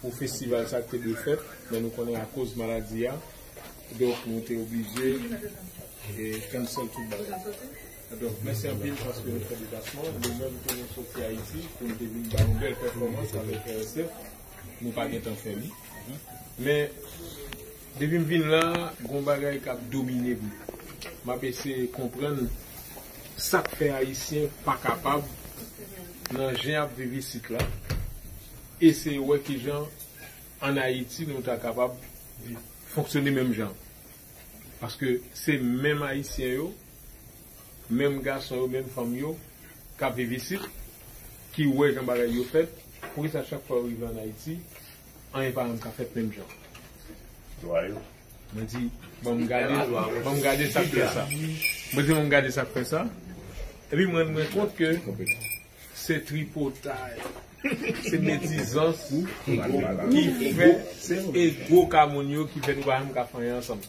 Pou festival sa te dwe fèt men nou konnen akoz maladi a donk nou te oblije cancel tout bagay donk mèsi anpil paske nou fè deplasman nou menm tou nou soti ayiti pou nou te vin bay yon bèl pèfòmans avèk RSF nou pa gentan fè li men Depi m vin la, gon bagay kap domine m. Map eseye konprann sak fè ayisyen pa kapab nan jan yap viv isit la, eseye wè kijan an Ayiti nou ta kapab fonksyone menm jan. Paske se menm ayisyen yo, menm gason yo, menm fanm yo kap viv isit ki wè jan bagay yo fèt, poukisa chak fwa yo rive an Ayiti Anyen pa janm ka fèt menm jan. Dwa yo. Mwen di, ban m gade, ban m gade sa k fè sa. Mwen di ban m gade sa k fè sa. Epi m rann mwen kont ke se tripotay, se medizans ki fè, se ego ka moun yo ki fè nou pa janm ka fanyan ansanm.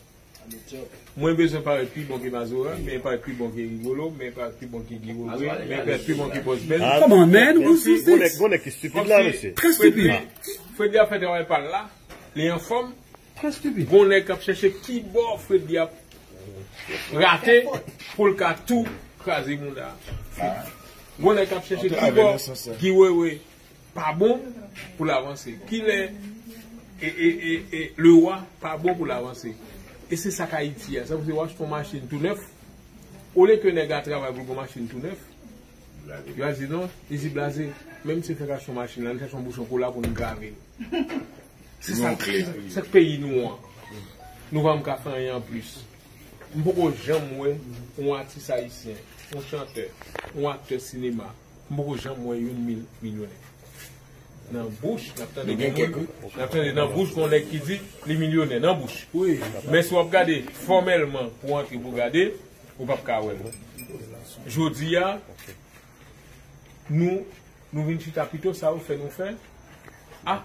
Mwen bezwen parèt pi bon ke Mazora, men parèt pi bon ke Rigolo, men parèt pi bon ke Guy Roger, men parèt pi bon ke Boss Ben. Come on man, who's this? Bon nèg, bon nèg ki stupid la mesye. Très stupid. Fredly ap fè travay pal la, li anfòm. Très stupid. Bon nèg kap chèche ki bò Fredly ap rate poul ka tou kraze mouda Fredly. Bon nèg kap chèche ki bò Guy Wewe pa bon pou l avanse kilè e le wa pa bon pou l avanse e se sak ayiti a sa vle di w achte yon machin tou nèf olye ke nèg la travay pou l gen yon machin tou nèf yo al di non li di blaze menm si l fèk achte yon machin la n chache yon bouchon kola pou n grave se sak peyi nou an nou pa menm ka fè anyen anplis m poko janm wè yon atis ayisyen yon chantè yon aktè sinema. M poko janm wè youn milyonè nan bouch nap tande gen kèk wi nap tande nan bouch gon nèg ki di li milyonè nan bouch men si wap gade fòmèlman pou antre pou gade ou pap ka wèl jodia nou nou vin chita pito sa ou fè nou fè a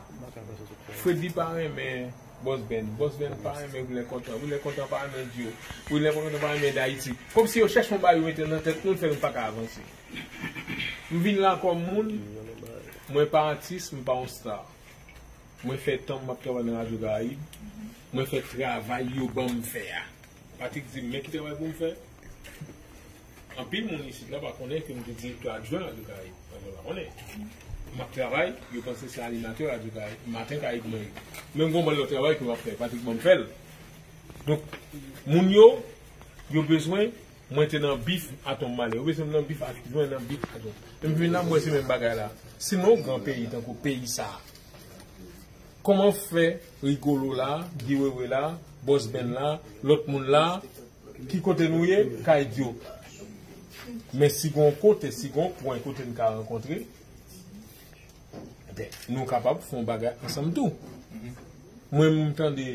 Freddy pa renmen Boss Ben Boss Ben pa renmen Wilè Kontan Wilè Kontan pa renmen Djo Wilè Kontan pa renmen Dayiti kòmsi yo chèch yon bagay yo mete nan tèt nou l fè nou paka avanse. M vin la kòm moun, mwen pa atis, m pa yon star. Mwen fè tan m map travay nan Radyo Karayib, mwen fè travay yo ban m fè a. Patrick di m, men ki travay pou m fè? Anpil moun isit la pa konnen ke m te direktè adjwen Radyo Karayib. Anpil moun pa konnen. M ap travay, yo panse se animatè Radyo Karayib, Maten Karayib mwen ye. Men m gen yon bann lòt travay ke m ap fè, Patrick ban m fè l. Donk, moun yo, yo bezwen. Mwen te nan bif a ton male. Yo bezwen m nan bif a ton. Mwen nan bif a ton. Depi m vin la m wè se menm bagay la. Si nan yon gran peyi tankou peyi sa a. Kòman fè Rigolo la, Guy Wewe la, Boss Ben la, lòt moun la, ki kote nou ye, ka idyo. Men si gen yon kote, si gen yon pwen kote n ka rankontre, enben nou kapab fè yon bagay ansanm tou. Mwen m tande.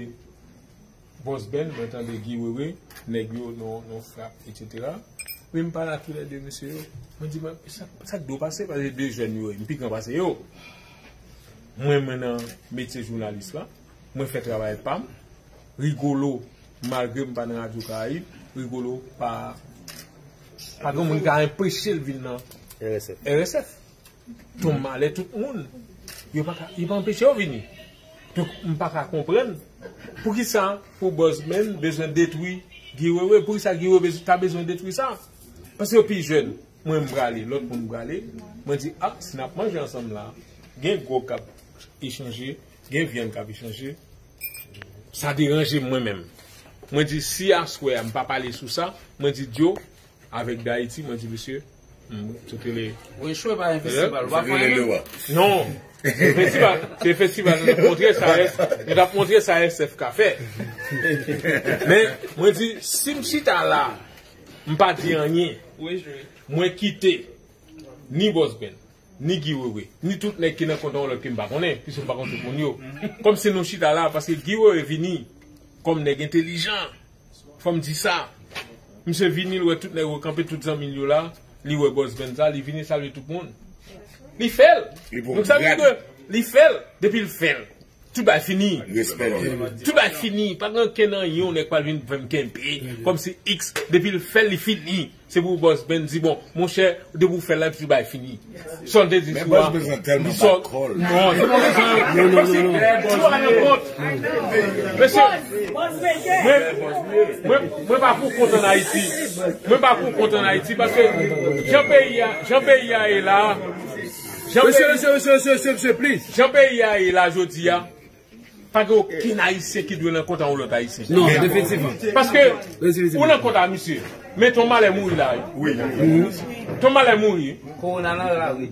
Boss Ben mwen tande Guy Wewe nèg yo non frap etc men mpa la kilè 2 mesye yo mwen di mwen sak do pase pase 2 jèn yo mpi gran pase yo mwen mwen nan metye jounalis la mwen fè travay pam Rigolo malgre mpa nan radyo karayib Rigolo pa pa gen moun ka enpechel vin nan RSF. Ton malè tout moun yo paka yo pa anpeche yo vini donk m paka konprann poukisa pou Buzman bezwen detwi Guy Wewe poukisa Guy Wewe ta bezwen detwi sa paske yo pi jèn mwen m prale lòt moun prale mwen di a si n ap manje ansanm la gen gwòg k ap echanje gen vyann k ap echanje sa deranje m mwen menm mwen di si aswè a m pa pale sou sa mwen di dyo Avek Dayiti mwen di misye m sot rele. Ou echwe pa yon festival ou pa konnen menm? Non! Se festival se festival nou tap montre sa es nou tap montre sa SF ka fè. Men mwen di si m chita la m pa di anyen mwen kite ni Boss Ben, ni Guy Wewe, ni tout nèg ki nan kontan lòt ke m pa konnen pwiske m pa konn tout moun yo. Kòmsi nou chita la paske Guy Wewe vini kòm nèg entelijan. Fòm di sa, misye vini l wè tout nèg yo kanpe tout zanmi l yo la, li wè bòs band sa, li vini salye tout moun. Li fè l! Donk sa vle di ke li fè l, depi l fè l, tout bagay fini. Respè li. Tout bagay fini, pa gen ankenn anyen yon nèg pral vin fè m kenpe, kòm si x, depi l fè l li fini. Se pou boss Ben di bon. Monchè depi ou fè live tu bay fini. Sa l te di sou a li sò non se pa sa yo yo yo yo a nan kont mesye mwen mwen mwen pa pou kont an Ayiti mwen pa pou kont an Ayiti paske jan peyi a jan peyi a ye la jan peyi a ye la jodi a. Pa gen okenn ayisyen ki dwe nan kont a yon lòt ayisyen. Non, definitivman. Paske, ou nan kont a misye, men ton malè mouri la wi. Wi, ton malè mouri wi. Kowona nan lari.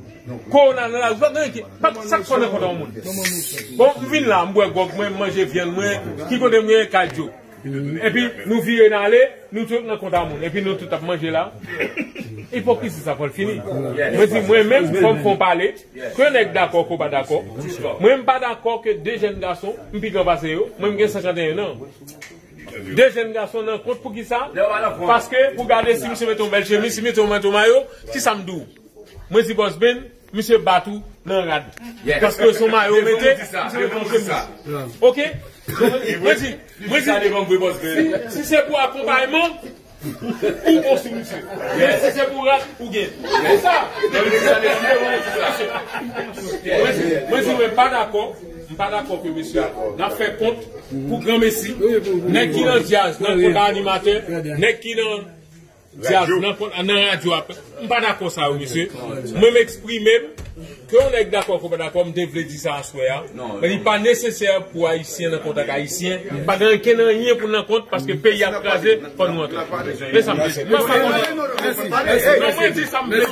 Kowona nan lari. Pa gen anyen ki, pa gen sa k fè w nan kont a yon moun. Bon, m vin la, m bwè gwòg mwen, m manje vyann mwen, ki kote m ye, kay Djo. Epi nou vire n ale nou tout nan kont a moun epi nou tout ap manje la ipokrizi sa fòl fini mwen di mwen menm fòm fon pale ke nèg dakò ke w pa dakò mwen m pa dakò ke de jèn gason m pi gran pase yo mwen m gen 51 nan de jèn gason nan kont poukisa paske pou gade si misye mete yon bèl chemiz si misye mete yon mayo kisa m di w mwen di bòs ben Misye bat ou nan rad paske son mayo ou mete devan vre misye ok mwen di mwen di si se pou akonpayman ou bon sou misye men si se pou rad ou gen pou sa mwen di mwen pa dakò m pa dakò ke misye nan fè kont pou granmesi nèg ki nan djaz nan konpa animatè nèg ki nan Dyab nan kont a nan radyo a. M pa dakò sa yo mesye. Mwen m eksprime m. Ke yon nèg dakò ke w pa dakò, m te vle di sa aswè a. Men li pa nesesè pou ayisyen nan kont ak ayisyen. Pa gen ankenn anyen pou n nan kont paske peyi a ap kraze fò nou antre. Se sa m vle di. Mwen pa dakò. Mwen di sa m vle di.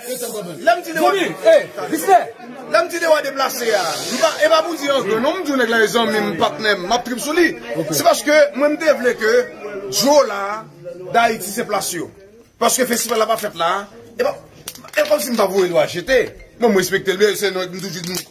Lè m di de wa deplase a, e pa pou di anyen non, m di w nèg la e zanmi m, patnè m, m ap trip sou li. Se paske mwen m te vle ke djo la, Dayiti se plas yo. Paske festival la pa fèt la, e pa, e kòmsi m pa voye l ou a jete. Bon m respekte l byen, se nèg m toujou di.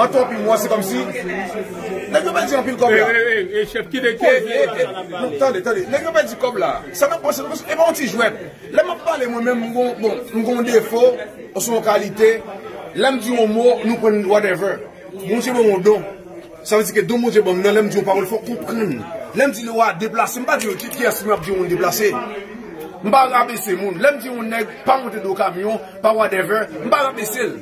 An tou anpil mwa se kòm si Nèg yo pèdi anpil kòb la Tande tande Nèg yo pèdi kòb la Sa nap panse nou E pa yon ti jwèt Lè map pale mwen menm m gon defo Oswa yon kalite Lè m di yon mo nou pran l whatever Bondye ban m yon don Sa vle di ke don Bondye ban m nan lè m di yon pawòl fòk ou konprann Lè m di nou a deplase m pa di kiyès m ap di yon moun deplase M pa rabese moun Lè m di yon nèg pa monte do kamyon Pa whatever M pa rabese l.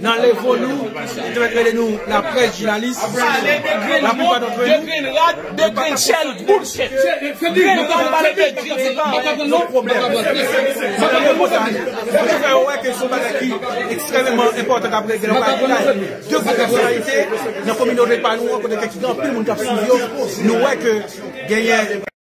Nan levo nou, yo te mèt rele nou la près jounalis. Pale de grenn mòd, de grenn rad, de grenn chèl, boulshit. Grenn rad pale de diri pa anyen. Yon pwoblèm. Se nan repòtaj, nou te fè yo wè ke se yon bagay ki ekstrèmeman enpòtan kap regle nan kay jounal. De gwo pèsonalite nan kominote pa nou an kote ke te gen anpil moun kap swiv yo, nou wè ke genyen.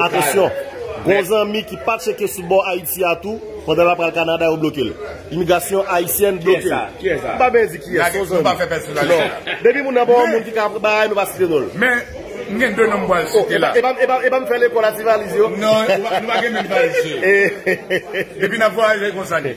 Atansyon! Gon zanmi ki pa tcheke sou bò Ayiti a tou, pandan lap pral Kanada yo bloke l. Imigrasyon Ayisyèn bloke l. Nou pa benyen di kiyès, son zanmi. Non. Depi moun nan pa yon moun ki ka aprann bagay, nou pa site non l. Men, m gen 2 non m pral site la. Oh, epa m fè lekòl a ti valiz yo. Non, nou pa gen menm valiz yo. Depi nap vwayaje konsa li.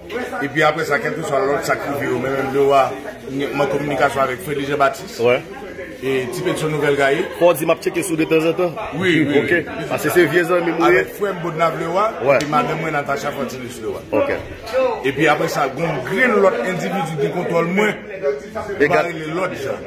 Epi apre sa kèlkeswa lòt sa k rive yo, men menm Lewa m an kominikasyon avèk Fredi Jan Batis e Ti Petyon Nouvèl Gaye. Fò w di m ap tcheke sou w detanzantan? Wi, wi. Ok. Pase se vye zanmi m ou ye. Avèk frè m Bodnav Lewa epi madanm mwen Natacha Fortunus Lewa. Ok. Epi apre sa gen yon grenn lòt endividi ki kontwòl mwen, m pa rele lòt jan.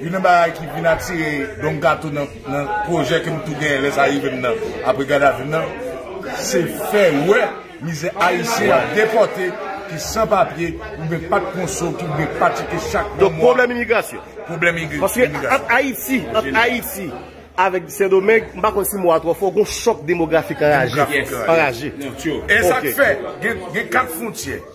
Youn nan bagay ki vin atire Don Kato nan pwojè ke m tou genyen lè sa rive m nan apre gad a vi m nan, se fè wè mizè Ayisyen y ap depòte, ki san papye, oubyen pa t konso, ki oubyen pa tcheke chak 1 mwa. Donk pwoblèm imigrasyon. Pwoblèm imigrasyon. Paske ant Ayiti, ant Ayiti avèk Sendomeng, m pa konn si mo a twò fò, gon chòk demografik anraje. Anraje. E sa k fè gen 4 fwontyè.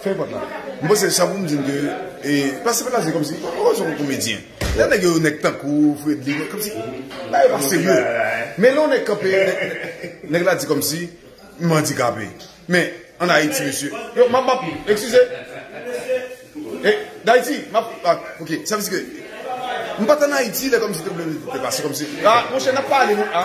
Fen vant la. M panse sa pou m di n ke e pase pa pase kòmsi oh se yon komedyen. Lè nèg yo yon nèg tankou w Fredly kòmsi bagay yo pa serye. Men lè yon nèg kanpe nèg la di kòmsi m andikape. Men an Ayiti mesye yo m ap m ap ekskize e Dayiti m ap ok sa vle di ke m pa t an Ayiti lè kòmsi te vle te pase kòmsi a monchè n ap pale nou a.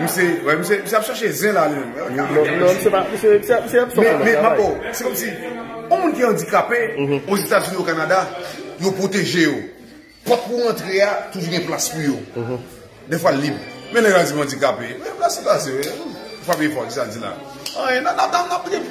Misye, wè misye, misye ap chache zen la li menm. Non, non, non, misye pa, misye, misye ap sòf anba travay. Men, men, Mako, se kòm si, yon moun ki andikape, o Zetazini, o Kanada, yo pwoteje yo. Pòt pou rantre a, toujou gen plas pou yo. De fwa l lib. Men lè yo al di m andikape, men plas li pase, ou pa peye pòt, ki sa l di la? Anyen, nan, nan, nan, nan, nan.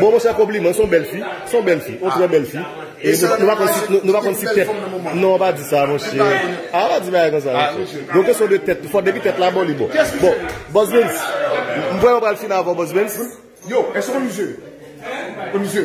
Bon mon chè konpliman son bèl fi son bèl fi on trè bèl fi e nou pa konn si nou pa konn si tèt non pa di sa mon chè a pa di bagay konsa mon chè gon kesyon de tèt tou fò depi tèt la bon li bon bon bòs Bens m kwè yo pral fin avèw bòs Bens. Yo, èske ou konn misye? Ou konn misye?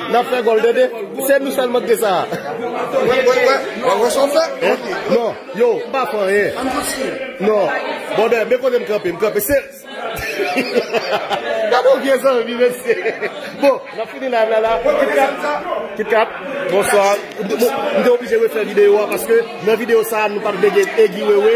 Nap fè gòl tande se nou sèlman ki gen sa. Wap wè sa wap fè non yo m pa fè anyen non bòdè men kote m kanpe m kanpe se gade yon vye zanmi mesye bon nap fini live la la kitkat bonswa m te oblije refè video a paske nan video sa nou pat vle gen egi wewe.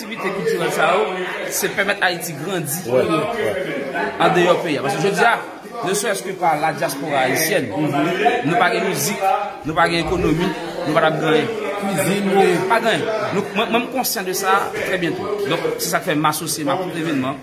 Aktivite kiltirèl sa yo se pèmèt Ayiti grandi andeyò peyi a. Paske jodi a, ne sèrès ke pa ladyaspora ayisyèn, nou pa gen mizik, nou pa gen ekonomi, nou pa t ap gen anyen. Kizin, pa gen anyen. Mwen menm konsyan de sa trè byento. Donk, se sa k fè m asosye m a tout evenman.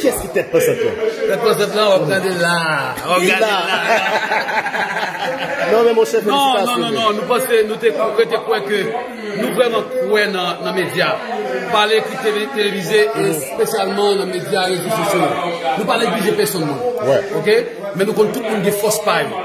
Kiyès ki tèt pansant lan? Tèt pansant lan wap gade la. Wap gade la. Non men monchè felisitasyon. Non non non nou panse nou te kwete kwè ke nou vreman kwè nan medya. Pale ki televize espesyalman nan medya rezo sosyo. Nou pa neglije peson moun. Ok? Men nou konn tout moun gen fòs pa yo.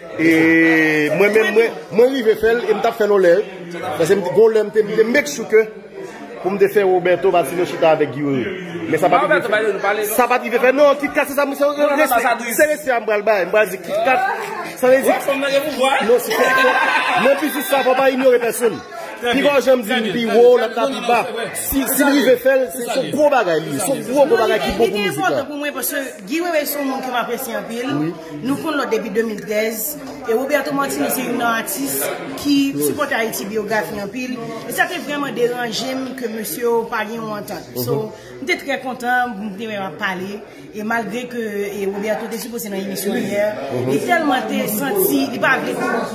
E mwen menm mwen mwen rive fèl e m tap fèl yon lè wi pase m t gon lè m t vle make sure ke pou m t fè Roberto Martino chita avèk Guy Wewe men sa pat rive fèt sa pat rive fèt non Kit Kat se sa m se respè se respè a m pral bay m pral di Kit Kat sa vle di non si fòk nan biznis sa fòk w pa inyore pèsonn pi fò jan m di m pi wo lòt la pi ba si m rive fèl se son gwo bagay li ye son gwo gwo bagay ki bon pou mizik la. Nou konn lòt depi 2013, e Roberto Martinez se youn nan atis ki sipòte Ayiti Biyografi anpil, e sa te vrèman deranje m ke mesye yo pa gen yon antant. So, m te trè kontan pou m te wè yo ap pale, e malgre ke Roberto te sipoze nan emisyon yè, li tèlman te santi li pa vle.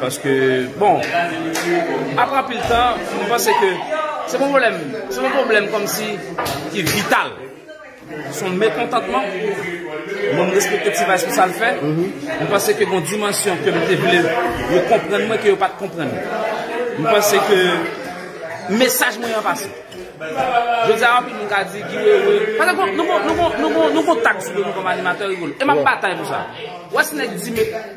Paske bon apre anpil tan mwen panse ke se pa yon pwoblèm, se yon pwoblèm kòmsi ki vital. Se yon mekontantman, mwen respekte T-vice pou sa l fè, mwen panse ke gon dimansyon ke m te vle yo konprann mwen ke yo pat konprann. Mwen panse ke mesaj mwen an pase. Jodi a anpil moun ka di Guy Wewe, pase nou gon nou gon nou gon tag sou do nou kòm animatè Rigolo e m ap batay pou sa. Wè si nèg di me.